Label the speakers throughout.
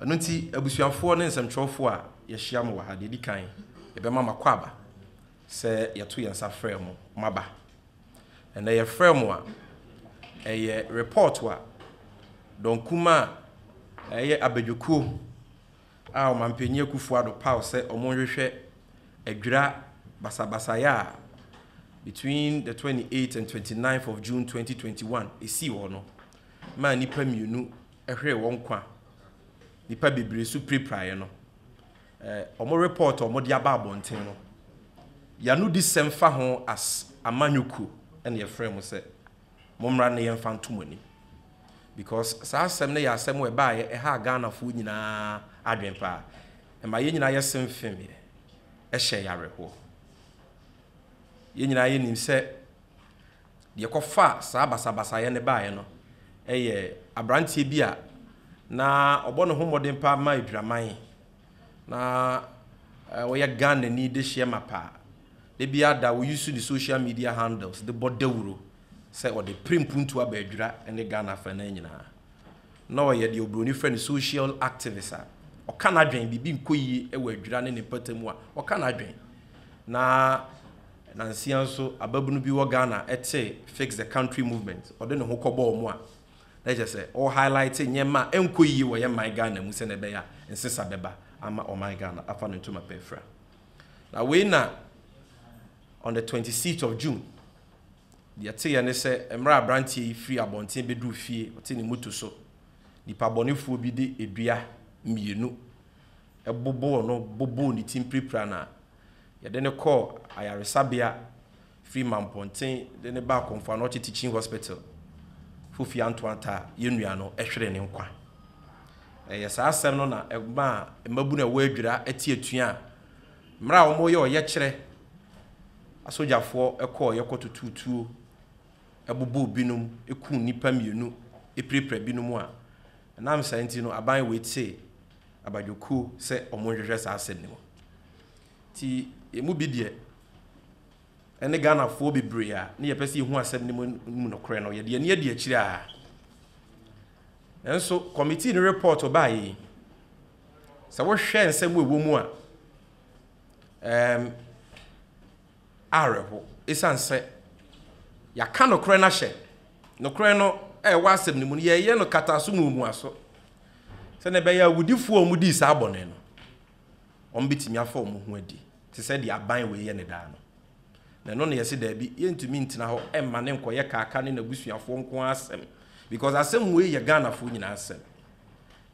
Speaker 1: Ɛno nti, abusuafoɔ ne nsɛmtwerɛfoɔ a yɛahyia mo wɔ ha, deɛ ɛdi kan, yɛbɛma mo akwaaba sɛ yɛto yɛn nsa frɛ mo moaba. Ɛnnɛ yɛfrɛɛ mo a, ɛyɛ report a dɔnkumaa a ɛyɛ abadwokuo a Ɔmanpanin Akuffo Addo paw sɛ wɔnhwehwɛ adwira basabasayɛ a between the twenty eight and twenty nine of June twenty twenty one ɛsii hɔ no maa nnipa mmienu hweree wɔn nkwa nnipa bebree so pirapiraeɛ no, wɔn report a wɔde aba abɔnten no, y'anodisɛm fa ho as amanyɔkuo na yɛfrɛɛ mo sɛ mo mmra na yɛmfa nto mo anim. Because saa asɛm no yɛ asɛm a ɛbaeɛ ɛhaa Ghanafoɔ nyinaa adwene paa. Ɛma yɛn nyinaa yɛ semfemeɛ, ɛhyɛɛ yɛn awerɛhoɔ. Yɛn nyinaa yɛnim sɛ Deɛ ɛkɔfaa saa basabasayɛ no baeɛ no yɛ aberanteɛ bi a na ɔbɔ ne ho mmɔden paa ma adwiraman. Na ɔyɛ Ghanani dehyeɛ mapa. Da biara da ɔuse ne social media handles de bɔ dawuro sɛ ɔde pere mpuntuo aba adwira ne Ghana afanan nyinaa. Na ɔyɛ deɛ oburoni frɛ no social activist a ɔka n'adwene, biribi nkɔ yie wɔ adwira ne ne mpatamu a ɔka n'adwene. Na Nansia nso, ababunu bi wɔ Ghana tee Fix the Country Movement, ɔde ne ho kɔbɔɔ mu a na kyerɛ sɛ ɔrehighlighte nneɛma a ɛnkɔ yiye wɔ yɛn man Ghana mu sɛnea ɛbɛyɛ a nsesa bɛba ama ɔman Ghana afa no ntoma pa afira. Na wei na on the twenty sixth of June, deɛ ɛteeɛ ne sɛ mmerɛ a aberanteɛ yi firi abɔnten bɛduru fie, ɔte ne moto so, nipabɔnefoɔ bi de dua mmienu boboo no, boboo ne ti mpirapira no a, Yɛde no kɔɔ ayaresabea firi Mampɔnten de no baa Komfo Anokye Teaching Hospital, Fofie Antoanta a yɛn nua no hweree ne nkwa. Ɛyɛ saa asɛm no na ɛmaa mmabunu a ɛwɔ Adwira te atua a mmerɛ a wɔreyɛ ɔyɛkyerɛ asogyafoɔ kɔeɛ kɔtotoo tuo bobɔɔ binom, kuu nnipa mmienu, pirapira binom a ɛnam saa nti no aban wei tee abadwokuo sɛ wɔnhwehwɛ saa asɛm no mu. Nti ɛmu bi deɛ ɛne Ghanafoɔ bebree a ne yɛpɛ sɛ yɛhu asɛm no mu mu nokorɛ no yɛde ani adi akyire a nanso kɔmitii no report ɔbaa yi sɛ wohwɛ nsɛm ɛwɔ mu a um, awerɛhow esiane sɛ yɛaka nokorɛ no ahyɛ. Nokorɛ no a ɛwɔ asɛm no mu no, yɛreyɛ no kataso mu omuaso, sɛnea ɛbɛyɛ a awudifoɔ a wɔdii saa bɔne no, wɔbɛtumi afa wɔn ho adi, te sɛ deɛ aban wei yɛ no daa no. Na ɛno na yɛse daabi, yɛntumi ntena hɔ mma no nkɔyɛ Kaaka ne n'abusuafoɔ nko ara asɛm, because asɛm wei yɛ Ghanafoɔ nyinaa asɛm.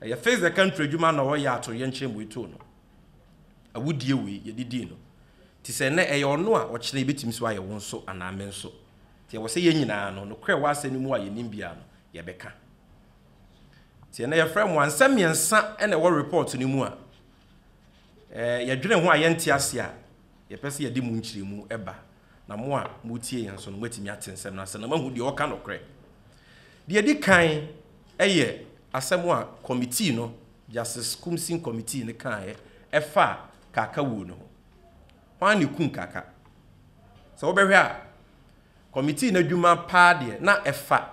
Speaker 1: Ɛyɛ Fix the Country adwuma na wɔyɛ atoyerɛnkyɛm wei too no. Awudie wei yɛde dii no, te sɛ nnɛ, ɛyɛ ɔno a ɔkyena ɛbɛtumi nso ayɛ wo nso anaa me nso. Nti ɛwɔ sɛ yɛn nyinaa no, nokorɛ wɔ asɛm no mu a yɛnim biara no, yɛbɛka. Nti ɛnnɛ yɛfrɛ mo a, nsɛm mmiɛnsa na ɛwɔ report no mu a, eh, yɛdwene ho a yɛnte ase a, yɛpɛ sɛ yɛde mo nkyerɛmu ba, na mo a motie yɛn nso no, moatumi ate nsɛm no ase na moahu deɛ ɔka nokorɛ. Deɛ ɛdi kan yɛ asɛm a committee no, Justice Koomsing Committee no kaeɛ ɛfaa Kaka wuo no ho. Hwan na ɛkum Kaka? Sɛ wobɛhwɛ a, Committee no adwuma paa deɛ na ɛfa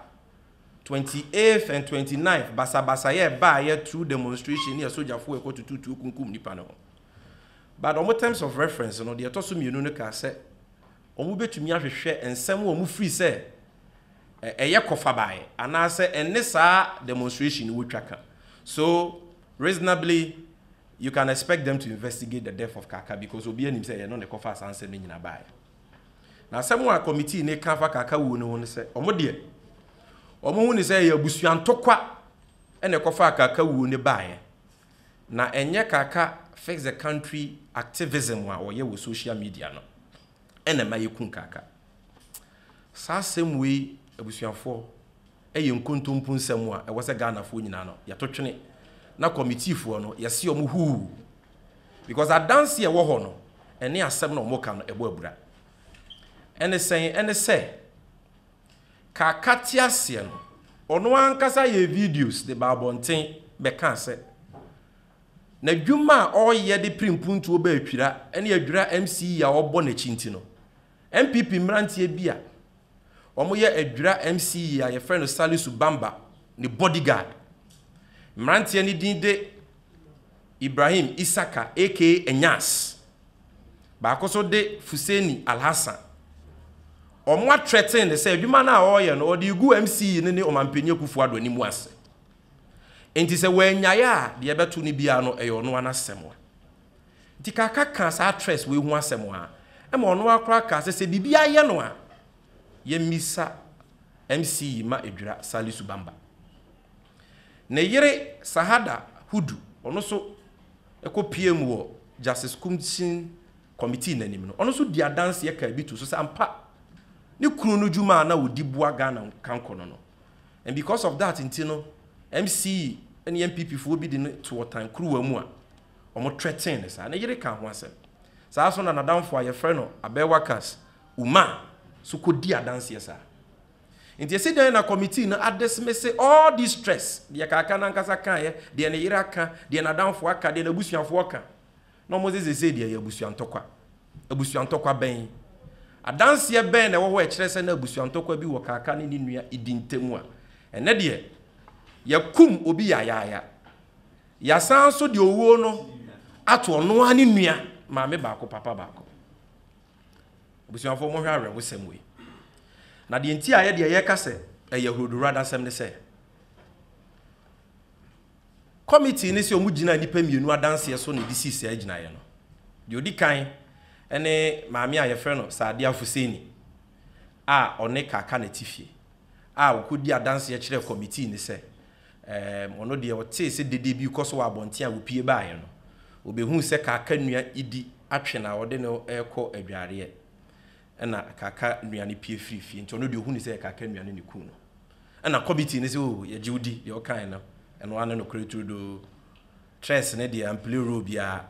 Speaker 1: twenty eighth and twenty ninth basabasayɛ a ɛbaeɛ through demonstration ne asogyafoɔ a ɛkɔtoto tuo kunkum nnipa no ho. But wɔn terms of reference no, deɛ ɛtɔ so mmienu no kaa sɛ wɔbɛtumi ahwehwɛ nsɛm a wɔfiri sɛ ɛyɛ kɔ fa baeɛ anaasɛ ɛne saa demonstration no wɔtwa ka so reasonably you can expect them to investigate the death of Kaka because obi anim sɛ ɛyɛ no na ɛkɔ fa saa nsɛm no nyina baeɛ na asɛm a committee ne ka fa Kaka wuo no ho no sɛ wɔn deɛ wɔn ho ne sɛ ɛyɛ abusua ntokwa ɛna ɛkɔ fa Kaka wuo no baeɛ na ɛnyɛ Kaka fix the country activism a wɔyɛ wɔ social media no ɛna ɛma yɛku Kaka Saa asɛm wei abusuafoɔ yɛ nkontompo nsɛm a ɛwɔ sɛ Ghanafoɔ nyinaa no yɛto twene na kɔmitiifoɔ no yɛse wɔn huu because adanse a ɛwɔ hɔ no ɛne asɛm na wɔn ka no ɛbɔ abura ɛne sɛn ɛne sɛ Kaka te aseɛ no ɔno ankasa yɛ videos de ba abɔnten bɛka sɛ n'adwuma a ɔreyɛ de pere mpuntuo ba atwira ɛne adwira MCE a ɔbɔ n'akyi nti no NPP mmeranteɛ bi a wɔyɛ Adwira MCE a yɛfrɛ no Salisu Bamba ne bodyguard. Mmeranteɛ no din de Ibrahim Isaka aka Anyas. Baako nso de Fuseni Alhassan. Wɔatrɛtene no sɛ adwuma no a ɔreyɛ no ɔde regu MCE no ne Ɔmanpanin Akufo-Addo anim ase. Enti sɛ wannyae a deɛ ɛbɛto no biara no ɛyɛ ɔno ara n'asɛm. Nti Kaka kaa saa Tres wei ho asɛm a, ɛma ɔno ara koraa kaa sɛ, sɛ biribi ayɛ no a, yɛmmisa MC yi mma ɛdwira Salisu Bamba. Ne yere Sahada Hudu, ɔno nso kɔpuee mu wɔ Justice Commission Committee no anim no, ɔno nso dii adanseɛ kaa bi too so sɛ ampa ne kunu no dwuma a na ɔdi boa Ghana nkankɔ no no. And because of that nti no, MC yi ne NPP foɔ bi de no to ɔtan kuruwa mu a wɔtrɛtee no saa. Ne yere kaa ho asɛm. Saa ara nso na n'adamfo a wɔfrɛ no Abewa Kass Umah nso kɔdii adanseɛ saa. Nti ɛsi dɛn na kɔmitii no adismisse all this stress, deɛ kaaka no ankasa kaeɛ, deɛ ne yere aka, deɛ n'adamfo aka, deɛ n'abusuafoɔ ka, na wɔdze seesei deɛ ɛyɛ abusua ntɔkwa? Abusua ntɔkwa bɛn? Adanseɛ bɛn na ɛwɔ hɔ a ɛkyerɛ sɛ na abusua ntɔkwa bi wɔ kaaka ne ne nua Idi ntam a ɛnnɛ deɛ yɛkum obi yayaaya? Yɛasan nso de owuo no ato ɔno ara ne nua maame baako papa baako. Abusuafoɔ monhwɛ awerɛhosɛm wei. Na deɛ nti a yɛ deɛ yɛka sɛ ɛyɛ ahurodowura dasɛm ne sɛ, kɔmitee no sɛ wɔn gyina nnipa mmienu adanseɛ so na ɛde sii saa gyinaeɛ no. Deɛ ɔdi kan ne maame a yɛfrɛ no Saadia Fuseni a ɔne Kaka Natifie a ɔkɔdi adanseɛ kyerɛɛ kɔmitee no sɛ Ɛɛm, ɔno deɛ ɔtee sɛ dede bi rekɔ so wɔ abɔnten a ɔpue baeɛ no. Ɔbɛhuu sɛ Kaaka nua Idi atwe no a ɔde no rekɔ adwareɛ. Ɛna Kaaka nua no pue firii fie, nti ɔno deɛ ɔhunuu sɛ Kaaka nua no na ɛkuu no. Ɛna Kɔbi tee no sɛ, Oo, yɛgye wo di, deɛ wokaeɛ no, ɛno ara ne nokorɛ turodoo. Tress no deɛ, amplee role biara.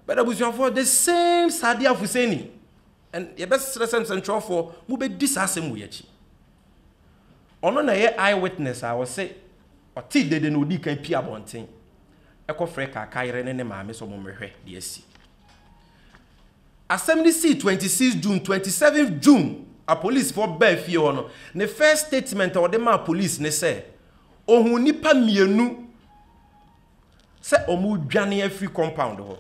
Speaker 1: But abusuafoɔ, the same Sadiya Fuseni! And yɛbɛsrɛ sɛ nsɛnkyerɛwfoɔ mo bɛdi saa asɛm wei akyi. Ɔno na ɛyɛ eye witness a ɔse ɔtee dede na ɔdii kan pie abɔnten kɔ frɛ Kaaka yere ne ne maame sɛ ɔmo mmɛhwɛ deɛ asi. Asɛm no sii 26 June, 27 June a polisfoɔ baa fie hɔ no, ne first statement a ɔde maa police ne sɛ ɔhuu nnipa mmienu, sɛ wɔredwane afiri compound hɔ.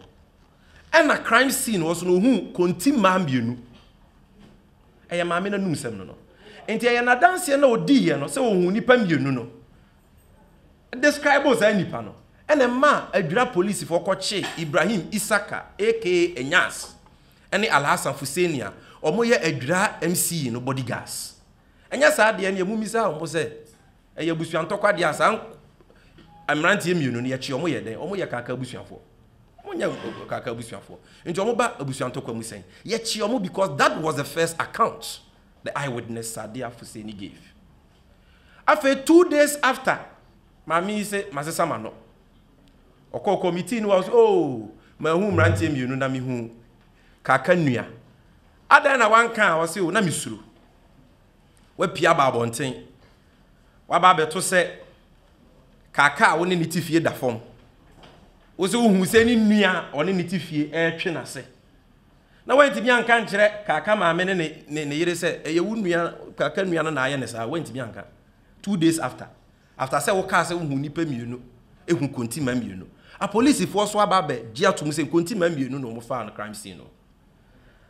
Speaker 1: Ɛna crime scene hɔ nso no, ohuu konti mmaa mmienu. Ɛyɛ maame no anumsɛm no no. Nti ɛyɛ n'adanseɛ na ɔdiiɛ no sɛ ɔhuu nnipa mmienu no. Describe saa nnipa no. Ɛna ɛma adwira polisifoɔ kɔkyee Ibrahim Isaka aka Anyas ne Alhassan Fuseni a wɔyɛ adwira MC no bodyguards. Ɛnyɛ saa deɛ no yɛ, mommisaa wɔn sɛ. Ɛyɛ abusua ntɔkwadeɛ a saa mmeranteɛ mmienu no yɛkye wɔn yɛ dɛn? Wɔn yɛ kaka abusuafoɔ. Wɔn nyɛ kaka abusuafoɔ. Nti wɔn ba abusua ntɔkwa mu sɛn? Yɛkye wɔn because that was the first account the eyewitness Sadiya Fuseni gave. Afei two days after maame yi se masesa m'ano. Ɔkɔ kɔ meeting no wa ɔsɛ oh mahu mmeranteɛ mmienu na mehu kaka nua. Adan na wanka a ɔse o na mesuro. Woapue aba abɔnten. Woaba abɛto sɛ kaaka a wo ne ne te fie da fam. Wo sɛ wohu sɛ ne nua a ɔne ne te fie retwe n'ase. Na woantumi anka ankyerɛ kaaka maame ne ne, ne, ne yere sɛ, ɛyɛ wo nua, kaaka nua no na ayɛ ne saa. Woantumi anka. Two days after. After sɛ wokaa sɛ wohu nnipa mmienu, ehu kontima mmienu. Apolisifoɔ nso aba abɛgye atom sɛ nkontima mmienu na wɔfaa no crime scene no.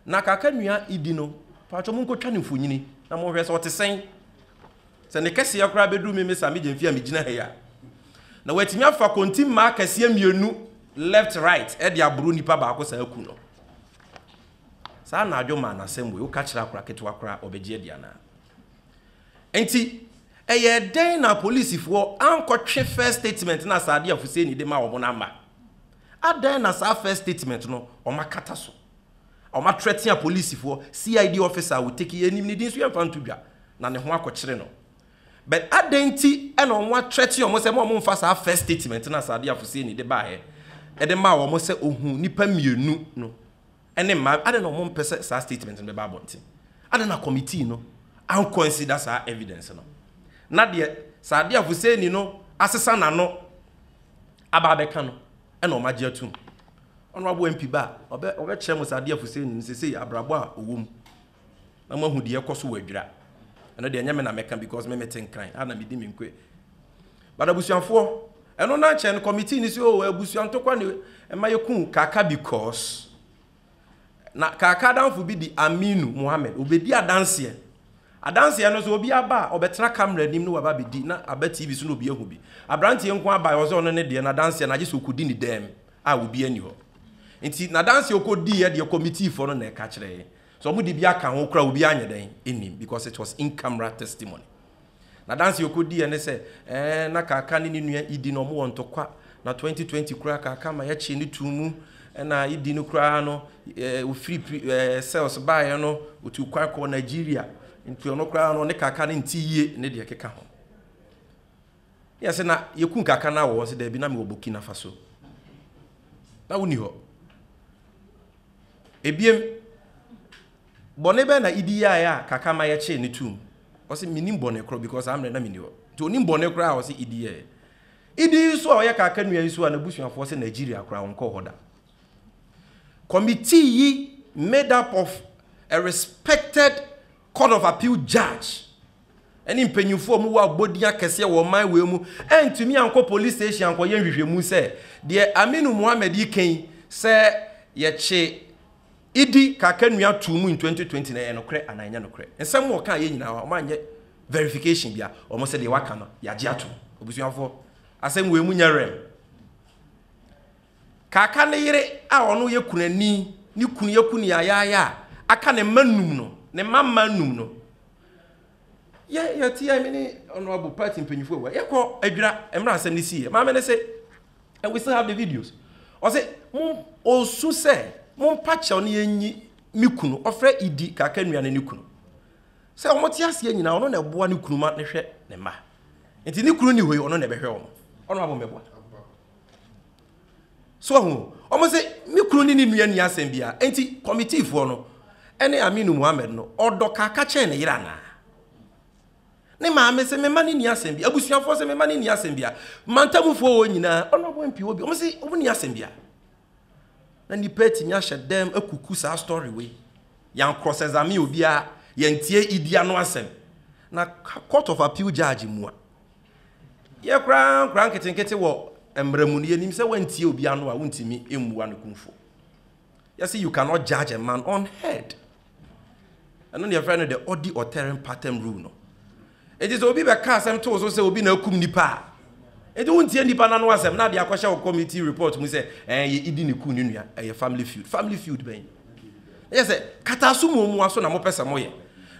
Speaker 1: Na kaka nua idi no, paatwɔ mo nkotwa ne mfonyini na mo hwɛ sɛ ɔte sɛn. Sɛ ne kɛseɛ koraa bɛduru me me saa me gyamfi a me gyina ha yi a. Na watumi afa konti mmaa kɛseɛ mmienu left right ɛde aboro nipa baako saa aku no. Saa na adwo maa n'asɛm wei woka kyerɛ akora ketewa koraa ɔbɛgye adi anaa. Nti ɛyɛ dɛn na polisifoɔ ankɔtwe first statement na asade a Fuseni de ma wɔn no ama. Adɛn na saa first statement no wɔn akata so? Wɔn atrɛtea polisifoɔ, CID officer a wɔtake yɛn nim ne din nso yɛmfa nto dwa na ne ho akɔkyere no. But adɛn nti na wɔn atrɛte wɔn sɛ ma wɔn mfa saa first statement no a Sadia Fuseni de baeɛ de maa wɔn sɛ ɔhuu nnipa mmienu no ne mmaa, adɛn na wɔn mpɛ sɛ saa statement no bɛba abɔnten? Adɛn na committee no an consider saa evidence no? Na deɛ Sadia Fuseni no asesa n'ano. aba abɛka no na wɔn agye atum. Honorable MP ba a, ɔbɛ ɔbɛkyerɛ mo sɛ adeɛ afusee nim sesei abrabɔ a ɔwɔ mu na mo ahu deɛ ɛkɔ so wɔ adwira. Ɛno deɛ ɛnyɛ me na mɛka because me mete nkran a na medi me nkoe. But abusuafoɔ, ɛno na kyɛn committee no sɛ oh abusua ntɔkwa ne ɛma yɛku kaka because Na Kaka damfo bi de Aminu Mohammed ɔbɛdi adanseɛ. Adanseɛ no nso obiara ba a ɔbɛtena camera anim na waba abɛdi na aba TV so na obi ahu bi. Aberanteɛ nko ara baeɛ ɔsɛ ɔno ne deɛ n'adanseɛ no agye sɛ ɔkɔdi ne dam a obiara nni hɔ. Nti n'adanseɛ ɔkɔdiiɛ deɛ kɔmitiifoɔ no na ɛka kyerɛɛ. Sɛ wɔde bi aka ho koraa obiara nyɛ dɛn nnim because it was in camera testimony. N'adanse a ɔkɔdiiɛ ne sɛ, Ɛɛ, na Kaka ne ne nua Idi no wɔwɔ ntɔkwa, na 2020 koraa Kaka ma yɛkyee no too mu, ɛnna Idi no koraa no, ɛɛ, ɔfiri pri, ɛɛ, cells baeɛ no, ɔtuu kwan kɔɔ Nigeria, nti ɔno koraa no, ɔne Kaka no nte yie, ne deɛ ɛkeka ho. Ne yɛse, Na yɛkum Kaka no a wɔ hɔ? Ɔse, Daabi, na mewɔ Burkina Faso. Na wonni hɔ. Ebiem. Bɔne bɛn na Ibi yɛaɛ a kaka ma yɛkyee no toom? Ɔse, Mennim bɔne korɔ because saa mmerɛ na menni hɔ. Nti ɔnim bɔne korɔ a ɔse Ibi yɛeɛ. Ibi yi nso a ɔyɛ kaka nua yi nso a n'abusuafoɔ se Nigeria koraa ɔnkɔɔ hɔ da. Committee yi made up of a respected Court of Appeal judge ɛne mpanyinfoɔ a wɔwɔ abɔdin akɛseɛ wɔ ɔman wei mu antumi ankɔ police station ankɔyɛ nhwehwɛmu sɛ deɛ Aminu Mohammed yi ka yi sɛ yɛkye Idi Kakanua too mu in twenty twenty no ɛyɛ nokorɛ anaa ɛnyɛ nokorɛ? Nsɛm a ɔkaaeɛ nyinaa wɔn anyɛ verification bia, wɔn sɛ deɛ waka no yɛagye atom. Abusuafoɔ, asɛm wei mu nyɛ rem. Kaka ne yere a ɔno yɛ kunani, ne kunu yɛ kuniayaayaa a aka ne mma nnum no, ne mma mma nnum no. Yɛ yɛteɛ me ne Honourable party mpanyinfoɔ wɔ yɛkɔ Adwira mmerɛ asɛm no siiɛ, maame no se And we still have the videos. Ɔsɛ mom ɔsu sɛ mompa kyɛw ne yɛnyi ne kunu ɔfrɛ Idi kaka nua ne ne kunu. Sɛ wɔn te aseɛ nyinaa ɔno na ɛboa ne kunu ma ne hwɛ ne mma. Nti ne kunu ni hɔ yi ɔno na ɛbɛhwɛ wɔn. Ɔno abɔ mɛboa. So ɔho wɔn sɛ ne kunu ne ne nua ni asɛm bia. Nti kɔmitiifoɔ no ɛne Aminu Muhammad no ɔdɔ kaka kyɛn ne yere anaa? Ne maame se me mma no nni asɛm bi. Abusuafoɔ se me mma no nni asɛm bia. Mantamufoɔ wɔ nyinaa ɔno ɔbɔ mpi wɔ bi. Wɔn se wɔn nni asɛm bia. Na nipa atumi ahyɛ dɛm akuku saa story wei. Yan cross examine obiara. Yan tie idi ano asɛm. Na court of appeal judge mu a. Yɛ koraa nkoraa nketenkete wɔ mmara mu no yɛnim sɛ wantie obi ano a wontumi mmua no kumfo. Yɛse you cannot judge a man on head. Ɛno na yɛfrɛ no the ɔdi ɔtɛrem pattern rule no. Enti sɛ obi bɛka asɛm to wo so sɛ obi na akum nipa a, enti wontie nipa no ano asɛm na de akɔhyɛ wo committee report mu sɛ ɛɛ yɛ idi ne ku ne nua, ɛyɛ family feud. Family feud bɛn? Na yɛ sɛ kataaso mu omuwa so na mopɛ sɛ moyɛ.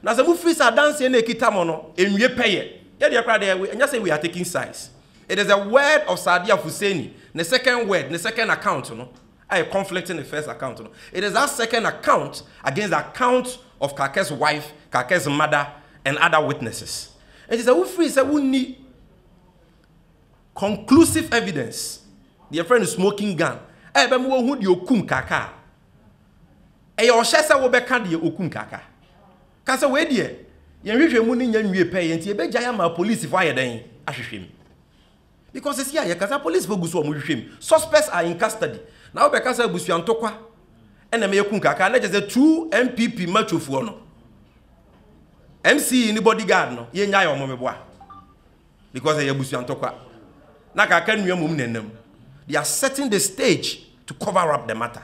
Speaker 1: Na sɛ mofiri sɛ adanseɛ na ɛkita mo no, ɛnwie pɛyɛ. Yɛdeɛ koraa deɛ, ɛnyɛ sɛ we are taking sides. It is a word of Saadia Fuseni, ne second word, ne second account no. ayɛ conflicting ne first account no, it is that second account against the account of Kakɛ's wife, Kakɛ's mother and other witnesses. Nti sɛ wo firi sɛ wo nni conclusive evidence, deɛ yɛfrɛ no smoking gun, a ɛbɛma wɔahu deɛ ɔkum Kaka a, ɛyɛ ɔhyɛ sɛ wobɛka deɛ ɔkum Kaka. Ka sɛ wei deɛ yɛn nhwehwɛmu no nnya nwie pɛyɛ nti yɛbɛgyae ama apolisifoɔ ayɛ dɛn ahwehwɛ mu. Because sisi a yɛkasa police fo gu so wɔn hwehwɛ mu suspects are in custody na wo bɛkasa abusua ntokwa ɛna mɛyɛ kun kaka na kyɛ sɛ two NPP macho foɔ no MCE ne bodyguard no yɛ nya yɛ wɔn meboa because ɛyɛ abusua ntokwa na kaka nua mum nenam they are setting the stage to cover up the matter.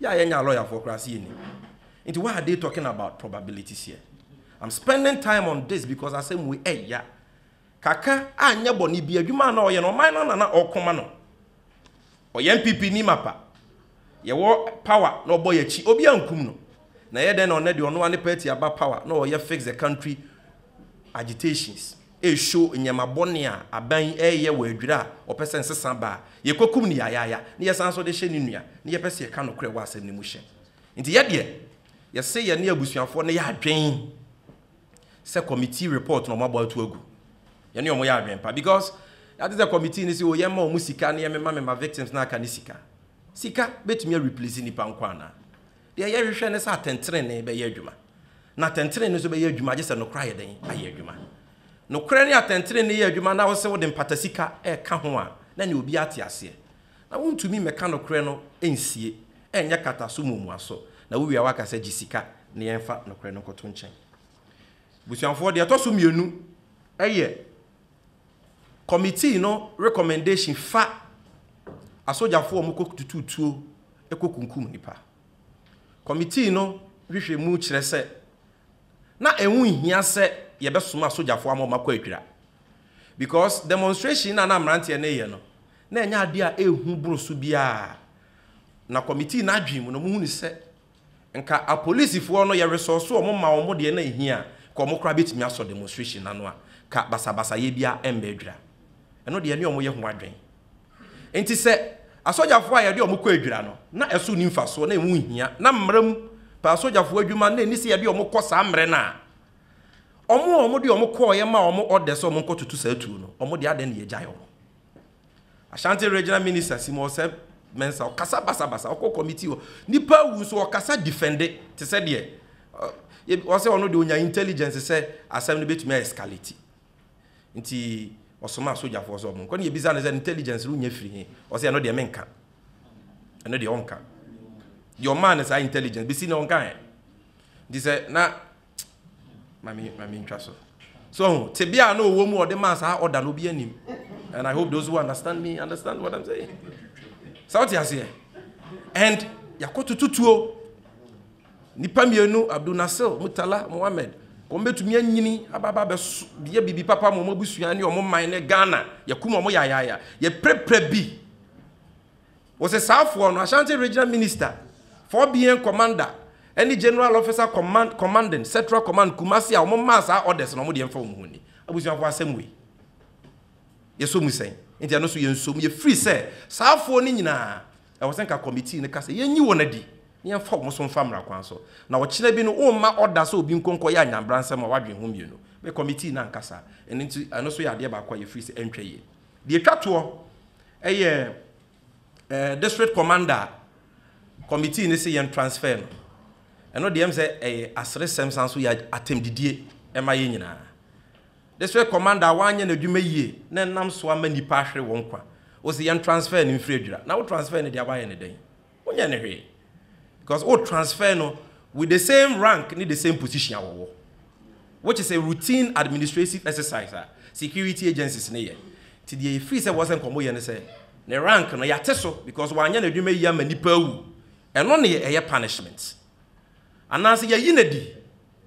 Speaker 1: Yɛ a yɛnyaa lawyer foɔ koraa se yɛnnim nti why are they talking about probabilities here? I'm spending time on this because asɛm wei ɛya kaka anyɛ bɔne bi adwuma na ɔyɛ no ɔman no na na ɔko ma no ɔyɛ NPP ni mapa yɛwɔ power na ɔbɔ yɛakyi obi ankum no na ɛyɛ dɛn na ɔnɛ deɛ ɔno ane party aba power na ɔyɛ fix the country agitations ɛreshow nneɛma bɔne a aban yi reyɛ wɔ adwira a wɔpɛ sɛ nsesa ba a, yɛkɔkum no yayaya na yɛsan nso de hyɛ ne nua na yɛpɛ sɛ yɛka nokorɛ wɔ asɛm no mu hyɛ. Nti yɛ deɛ, yɛse yɛne abusuafoɔ no yɛ adwen sɛ committee report na wɔabɔ ato agu. Yɛne wɔn yɛ adwen pa because yɛate sɛ committee no se o yɛmma wɔn sika na yɛmema mema victims no aka ne sika. Sika bɛtumi areplace nnipa nko anaa? Deɛ yɛhwehwɛ ne sɛ atɛntenenee bɛyɛ adwuma, na atɛntenenee nso bɛyɛ adwuma gye sɛ nokorɛ ayɛ dɛn? Ayɛ adwuma. Nokorɛ ne atɛntenenee yɛ adwuma na wo sɛ wode mpatasika reka ho a, na ɛneɛ obiara te aseɛ. Na wontumi mmɛka nokorɛ no nsie, ɛnyɛ kata so muamua so, na wowie a woaka sɛ gye sika na yɛmfa nokorɛ no nkɔto nkyɛn. Abusuafoɔ, deɛ ɛtɔ so mmienu yɛ Kɔmitii no rekɔmɛndehyin fa asogyafo a wɔkɔtutu tuo kɔkunkum nnipa. Kɔmitii no nhwehwɛmu kyerɛ sɛ na ɛho nhia sɛ yɛbɛsoma asogyafo ama wɔakɔ adwira because demonstration no a na mmeranteɛ no reyɛ no, na ɛnyɛ adeɛ a ɛyɛ hu boro so biara. Na kɔmitii no adwene mu no, wɔhunu sɛ Nka apolisifoɔ no yɛ resɔɔse wɔn ma wɔn deɛ na ɛhia a, nka wɔn koraa bɛtumi asɔ demonstration no ano a, nka basabasayɛ biara mmɛ adwira. Ɛno deɛ ɛne wɔn yɛ ho adwen. Nti sɛ asogyafoɔ a yɛde wɔn kɔ adwira no, na ɛso nni mfasoɔ, na ɛho nhia, na mmara mu pɛ asogyafoɔ adwuma na ɛnni sɛ yɛde wɔn kɔ saa mmerɛ no a, wɔn a wɔde wɔn kɔeɛ maa wɔn orders sɛ wɔnkɔtoto saa tuo no, wɔn deɛ adɛn na yɛagyae wɔn? Ashanti Regional Minister Simo Oseb Mensah ɔkasa basabasa ɔkɔ committee hɔ nipa awu nso ɔkasa defende te sɛ deɛ ɔsɛ ɔno deɛ ɔnya intelligence sɛ asɛm no bɛtumi a escalate nti ɔsoma asogyafoɔ sɛ ɔmo nkɔ ne yɛbisa no sɛ intelligence no nya firi he ɔsɛ ɛno deɛ menka ɛno deɛ ɔnka deɛ ɔmaa no saa intelligence bɛsi na ɔnka ɛ nti sɛ na ma me ma me ntwa so so tebea a na ɔwɔ mu a ɔde maa saa ɔda no obi anim and i hope those who understand me understand what i'm saying sɛ wote aseɛ and yɛakɔtoto tuo nipa mmienu abdul nasir mutala mohammed wɔn bɛtumi anyini ababa bɛyɛ biribi papa ma wɔn abusua ne wɔn man ne ghana yɛkum wɔn yaayaaya yɛpirapira bi Ɔsesaafoɔ no, Ashanti Regional Minister for BN Commander ne General Officer Command Commanding Central Command Kumasi a wɔn maa saa orders no wɔn deɛ mfa wɔn ho nni. Abusuafoɔ asɛm wei yɛ sɔ mu sɛn? Nti ɛno nso yɛ nsɔ mu yɛ free sɛ saafoɔ no nyinaa ɛwɔ sɛ nka committee no ka sɛ yɛn nyi wɔn adi na yɛn fa wɔn so mfa mmra kwan so na ɔkyena bi no wɔn ma order sɛ obi nkɔ nkɔ yɛ anyanbransɛm a wadwen ho mmienu me committee no anka saa ɛno nti ɛno nso yɛ adeɛ baako a yɛ free sɛ ɛntwa yie. Deɛ ɛtwa toɔ yɛ ɛɛ district commander committee no se yɛn transfer no. Ɛno deɛ ɛm sɛ ɛyɛ aseresɛm san so yɛ atɛmdidie ɛma yɛn nyinaa. District commander a wanyɛ n'adwuma yie na ɛnam so ama nnipa ahwere wɔn nkwa. Ose yɛn transfer no mfiri adwira. Na wo transfer no deɛ woayɛ no dɛn? Wonyɛ no hwee because wo transfer no with the same rank ne the same position a wɔwɔ which is a routine administrative exercise a security agencies no yɛ. Nti deɛ yɛfiri sɛ wɔsɛ nkɔmmɔ yɛ ne sɛ ne rank no yɛate so because wanyɛ n'adwuma yie ama nipa awu. Ɛno ne ɛyɛ punishment. Anaasɛ yɛayi no adi,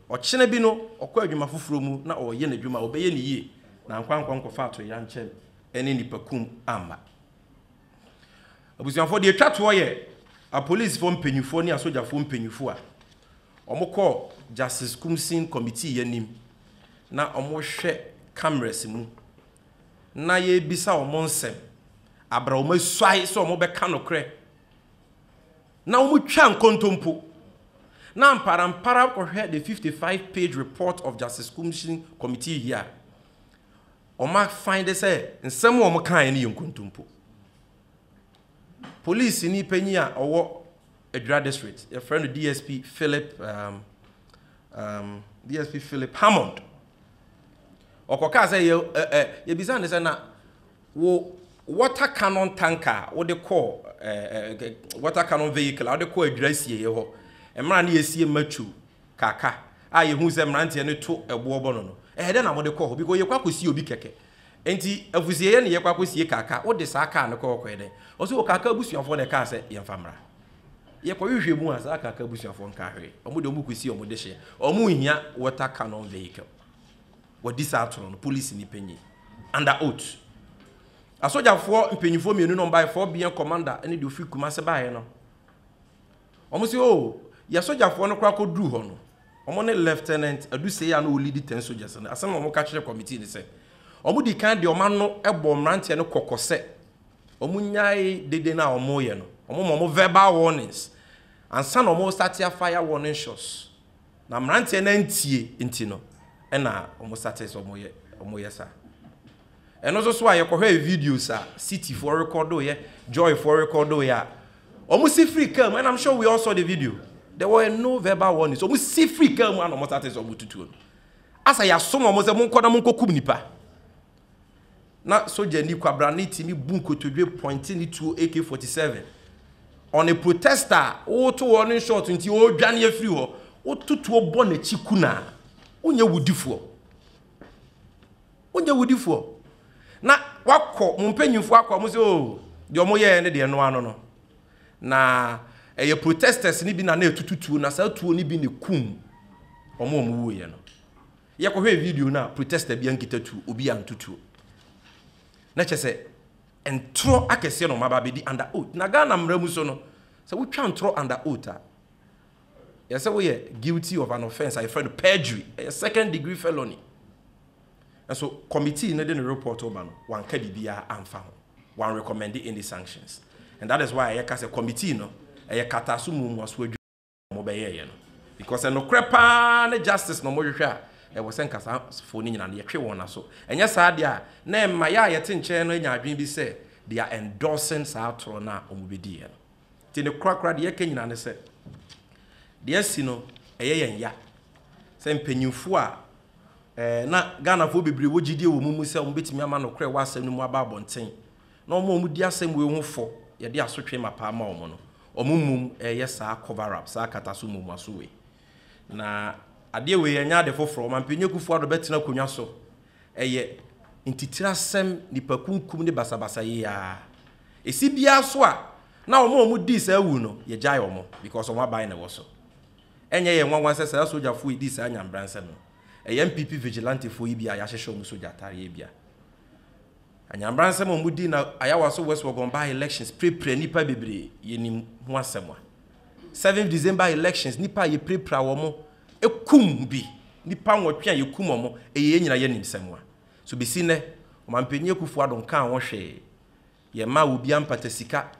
Speaker 1: ɔkyena bi no ɔkɔ adwuma foforɔ mu na ɔreyɛ n'adwuma a ɔbɛyɛ no yie na ankɔ ankɔ nkɔfa atoyerɛnkyɛm ne nipa kum amma. Abusuafoɔ, deɛ ɛtwa toɔ yɛ apolisifoɔ mpanimfoɔ ne asogyafoɔ mpanimfoɔ a wɔkɔɔ Justice Kumsing Committee anim na wɔhwɛ cameras mu na yɛrebisa wɔn nsɛm abra wɔn asuae sɛ wɔbɛka nokorɛ na wɔtwa nkontompo na amparampara kɔhwɛ the 55 page report of Justice Kumsing Committee here Wɔafande sɛ nsɛm a wɔkaeɛ no yɛ nkontompo. Polisini panyin a ɔwɔ Adwira District, yɛfrɛ no DSP Philip um, um, DSP Philip Hammond. Ɔkɔkaa sɛ yɛ, ɛ, ɛ, yɛbisa no sɛ na wo water cannon tanker a wode kɔɔ ɛ, ɛ, water cannon vehicle a wode kɔɔ Adwira sieeɛ hɔ mmerɛ a na yɛsie Matthew Kaka a yɛhuu sɛ mmeranteɛ no to ɛboɔ bɔ no no, ɛyɛ dɛn na mode kɔɔ hɔ? Bikɔ yɛkɔ akɔsie obi kɛkɛ. Enti afusieɛ ne yɛkɔ akɔsie Kaka. Wode saa kaa no kɔɔ kɔyɛ dɛn? Ɔse o Kaka abusuafoɔ na ɛkaa sɛ yɛmfa mmra. Yɛkɔhwehwɛ mu a saa Kaka abusuafoɔ nkaa hwee. Wɔn deɛ wɔkɔsie wɔn dehyeɛ. Wɔnhia water cannon vehicle. Wɔadi saa atorɔ no, polisini panyin, under oath. Asogyafoɔ mpanimfoɔ mmienu na wɔbaeɛ, Fort Beer commander ne deɛ ɔfiri Kumasi baeɛ no. Wɔn se oh yɛ sogyafoɔ no koraa kɔduruu hɔ no, wɔn ne Lieutenant Adusei a na ɔlidi Ten Soldiers no, asɛm a wɔn ka kyerɛɛ committee no sɛ, wɔn dii kan de wɔn ano bɔɔ mmeranteɛ no kɔkɔ sɛ wɔn nyae dede no a wɔn reyɛ no, wɔn ma wɔn verbal warnings ansa na wɔn restate afire warning shots, na mmeranteɛ no antie nti no na wɔn state sɛ wɔn yɛ saa. Ɛno nso so a, yɛkɔhwɛɛ videos a Cityfoɔ rekɔdoeɛ, Joyfoɔ rekɔdoeɛ a, wɔn si firi kaa mu, and I'm sure we all saw the video. There were no verbal warnings. Wɔn si firi kaa mu a na wɔn sate sɛ wɔn tutuo no. Asa yɛasom wɔn sɛ monkɔ na monkɔkum nipa. Na sogyani kwabrane tumi bu nkotodwe pɔnte ne tuo AK-47. On a protester a woto hɔ ne short nti ɔredwane afiri hɔ, wototuo bɔ n'akyi kunaa. Wonyɛ wudifoɔ. Wonyɛ wodifoɔ na wakɔ mo mpanyinfoɔ akɔ a mo sɛ oh deɛ ɔmo yɛɛ ne deɛ noa no no na ɛyɛ protesters ne bi na na ɛtutu tuo na saa tuo ne bi ne kum ɔmo ɔmo wuiɛ no yɛ kɔhwɛ video no a protester bi ankita tuo obi anto tuo na kyɛ sɛ ntorɔ akɛseɛ na ɔmo aba abɛdi under oath na Ghana mmara mu so no sɛ wotwa ntorɔ under oath a yɛ sɛ woyɛ guilty of an offense a yɛfrɛ no perjury ɛyɛ second degree felony Nso committee no de ne report reba no, wɔanka biribiara amfa ho. Wɔanrecommende any sanctions. And that is why a yɛka sɛ committee no, ɛyɛ kataaso mu mmuaso adwuma na wɔbɛyɛeɛ no. Because sɛ nokorɛ pa ara ne justice na wɔhwehwɛ a, ɛwɔ sɛ nka saa foɔ no nyinaa no, yɛtwe wɔn aso. Ɛnyɛ saa deɛ a, na ɛmma yɛn a yɛte nkyɛn no anya adwene bi sɛ they are endorsing saa atorɔ no a wɔbɛdiiɛ no. Nti ne korakora deɛ yɛka nyinaa ne sɛ, deɛ asi no, ɛyɛ yɛn ya sɛ mpanyimfoɔ a Na Ghanafoɔ bebree wɔ gyidie wɔ wɔn mu sɛ wɔbɛtumi ama nokorɛ wɔ asɛm no mu aba abɔnten. Na wɔn a wɔdi asɛm wei ho fɔ, yɛde asotwee ma paa ma wɔn no, wɔn mmom reyɛ saa cover up, saa akataso mmuaso wei. Na adeɛ wei ɛnyɛ ade foforɔ, Ɔmanpanyin Akufo-Addo bɛtena akonwa so, ɛyɛ ntitire asɛm, nnipa kunkum ne basabasa yei ara. Ɛsi biara so a, na wɔn a wɔdii saa awu no, yɛgyae wɔn, because wɔn aban na ɛwɔ so. Ɛnyɛ yɛn nwanwa sɛ saa sogyafo yi dii saa nyambra nsɛm no. Ɛyɛ NPP vigilantefo yi bi a yɛahyehyɛ wɔn sogya atare ebia. Anyambra nsɛm a wɔdii na Ayawaso West Wuogon by-elections pirapira nnipa bebree, yɛnim ho asɛm a. Seventh December elections, nnipa a yɛpirapira wɔn, kum bi, nnipa nwɔtwe a yɛkum wɔn, ɛyɛ yɛn nyinaa yɛn nimsɛm a. So besi nnɛ, Ɔmampanyin Akufo-Addo nkaa ho hwee? Yɛmmaa obiara mpata sika.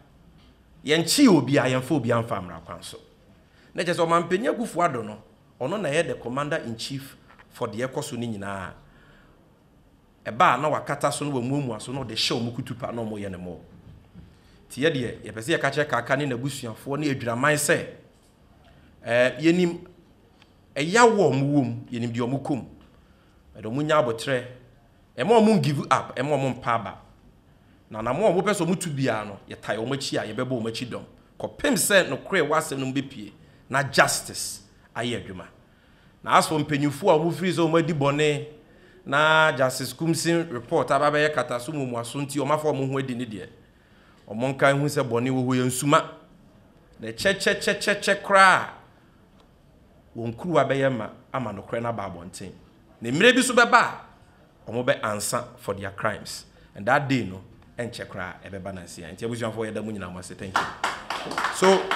Speaker 1: Yɛnkyee obiara, yɛmfa obiara mfaa mmara kwan so. Na kyerɛ sɛ Ɔmanpanin Akuffo Addo no, ɔno na ɛyɛ the Commander in Chief for deɛ ɛkɔ so no nyinaa. Ɛba a na wakata so na wamuamua so na ɔde hyɛ wɔn kutupa na wɔyɛ no more. Nti yɛ deɛ yɛpɛ sɛ yɛka kyerɛ Kaka ne n'abusuafoɔ ne Adwiraman sɛ, eh, yɛnim ɛyaw a wɔwɔ mu, yɛnim deɛ wɔkɔ mu. Ɛde wɔn nya aboterɛ. Ɛma wɔn ngivu ap, ɛma wɔn mpa aba. Na anammɔn a wɔpɛ sɛ wɔtu biara no, yɛtae wɔn akyi a, yɛbɛbɔ wɔn akyi dɔm, kɔpem sɛ nokorɛ w'asɛm no mu bɛpue, na justice ayɛ adwuma. Na as for mpanyimfoɔ a wɔfirii sɛ wɔadi bɔne, na Justice Kumsin report aba abɛyɛ kataso mu omuaso nti wɔafa wɔn ho adi no deɛ, wɔn nka nhu sɛ bɔne wɔ hɔ yɛnsuma, na ɛkyɛkyɛkyɛkyɛkyɛ koraa a, wɔn kuruwa bɛyɛ ma ama nokorɛ no aba abɔnten. Na mmerɛ bi nso bɛba a, wɔn bɛ ansa for their crimes and that day no ɛnkyɛ koraa ɛbɛba nansi a. Nti abusuafoɔ yɛda mo nyinaa mo ase thank you so.